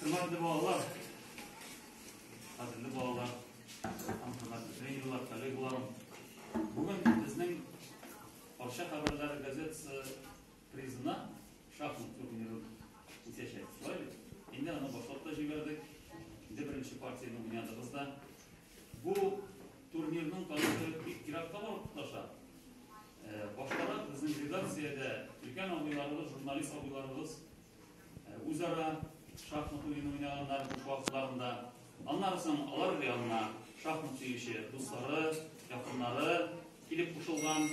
Хөрмәтле балалар, кадерле балалар, һәм хөрмәтле тренерлар, коллегаларым. Бүген безнең Арча хәбәрләре газетасы призына шахмат турниры үтәчәк. Шулай бит? Инде аны башлап та җибәрдек. Инде беренче партияне уйнадыгыз да. Бу турнирның тарихы бик еракка барып тоташа. Э, баштарак безнең редакциядә өлкән абыйларыбыз, журналист абыйларыбыз Үзара шахмат уены уйнаганнар буш вакытларында. Аннан соң алар янына шахмат сөюче дуслары, якыннары килеп кушылган.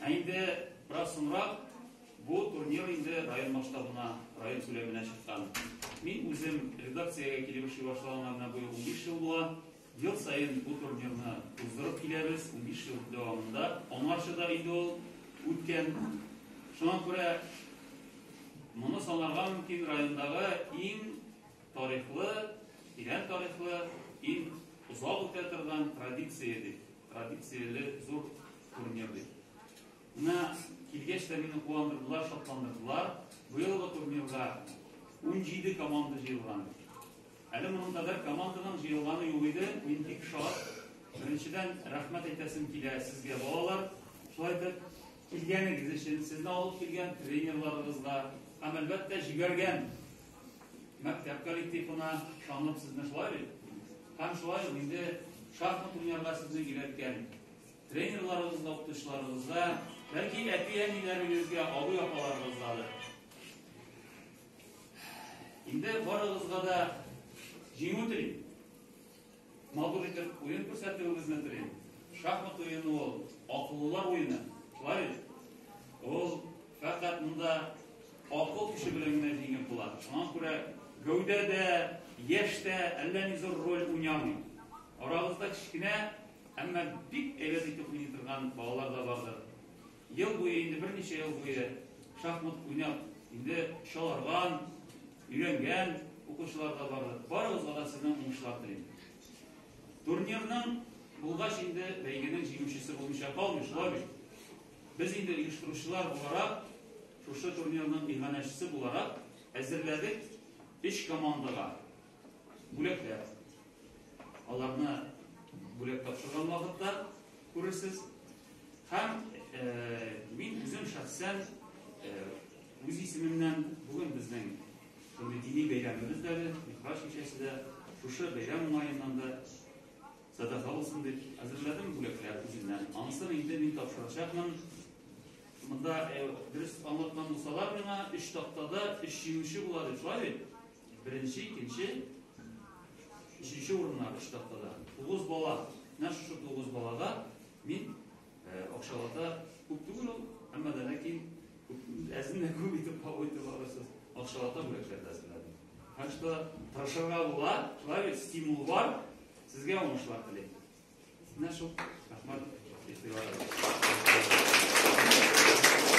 Ә инде бераз соңрак бу турнир инде район масштабына, район күләменә чыккан. Мин үзем редакциягә килеп эшли башлаганыма менә быел унбиш ел була. Ел саен бу турнирны уздырып киләбез, унбиш ел дәвамында. Аңарчы да инде ул үткән. Шуңа күрә моны санарга мөмкин райондагы иң тарихлы, тирән тарихлы, иң озак үтә торган традиция дип, традицияле зур турнир дип. Менә килгәч тә мине куандырдылар, шатландырдылар. Быелгы турнирга 17 команда җыелган. Әле моның кадәр команданың җыелганы юк иде, мин бик шат. Беренчедән, рәхмәт әйтәсем килә сезгә, балалар. Шулай итеп, килгәнегез өчен, сезне алып килгән тренерларыгызга һәм, әлбәттә, җибәргән мәктәп коллективына ышанып сезне шулай бит. Һәм шулай ук инде шахмат уйнарга сезне өйрәткән тренерларыгызга, укытучыларыгызга, бәлки әти-әниләрегезгә, абый-апаларыгызга да Инде барыгызга да җиңү телим. Матур итеп уен күрсәтүегезне телим. Шахмат уены ул акыллылар уены. Шулай бит? Ул фәкать монда акыл көче белән генә җиңеп була. Шуңа күрә гәүдә дә, яшь тә әллә ни зур роль уйнамый. Арагызда кечкенә, әмма бик әйбәт итеп уйный торган балалар да бардыр. Ел буе, инде берничә ел буе шахмат уйнап, инде чаларган, өйрәнгән укучылар да бар. Барыгызга да сезнең уңышлар телим. Турнирның булгач инде бәйгенең җиңүчесе булмыйча калмый, шулай бит. Без инде оештыручылар буларак, шушы турнирның иганәчесе буларак әзерләдек өч командага. Бүләкләр. Аларны бүләк тапшырган вакытта күрерсез. Һәм мин үзем шәхсән үз исемемнән бүген безнең шундый дини бәйрәмебез дә әле, Михраж кичәсе дә, шушы бәйрәм уңаеннан да садака булсын дип әзерләдем бүләкләр үземнән. Анысын инде мин тапшырачакмын. Монда дөрес аңлатман булсалар миңа, өч тактада өч җиңүче була дип, шулай бит? Беренче, икенче, өченче урыннар өч тактада. Тугыз бала. Менә шушы тугыз балада мин акчалата күп түгел ул, әмма да ләкин әзенә күп итеп кабул итеп алырсыз. Акчалата бүләкләр дә әзерләдем. Так что тырышырга була, шулай бит стимул бар. Сезгә уңышлар телим. Менә шул. Рәхмәт. Ихтыяр.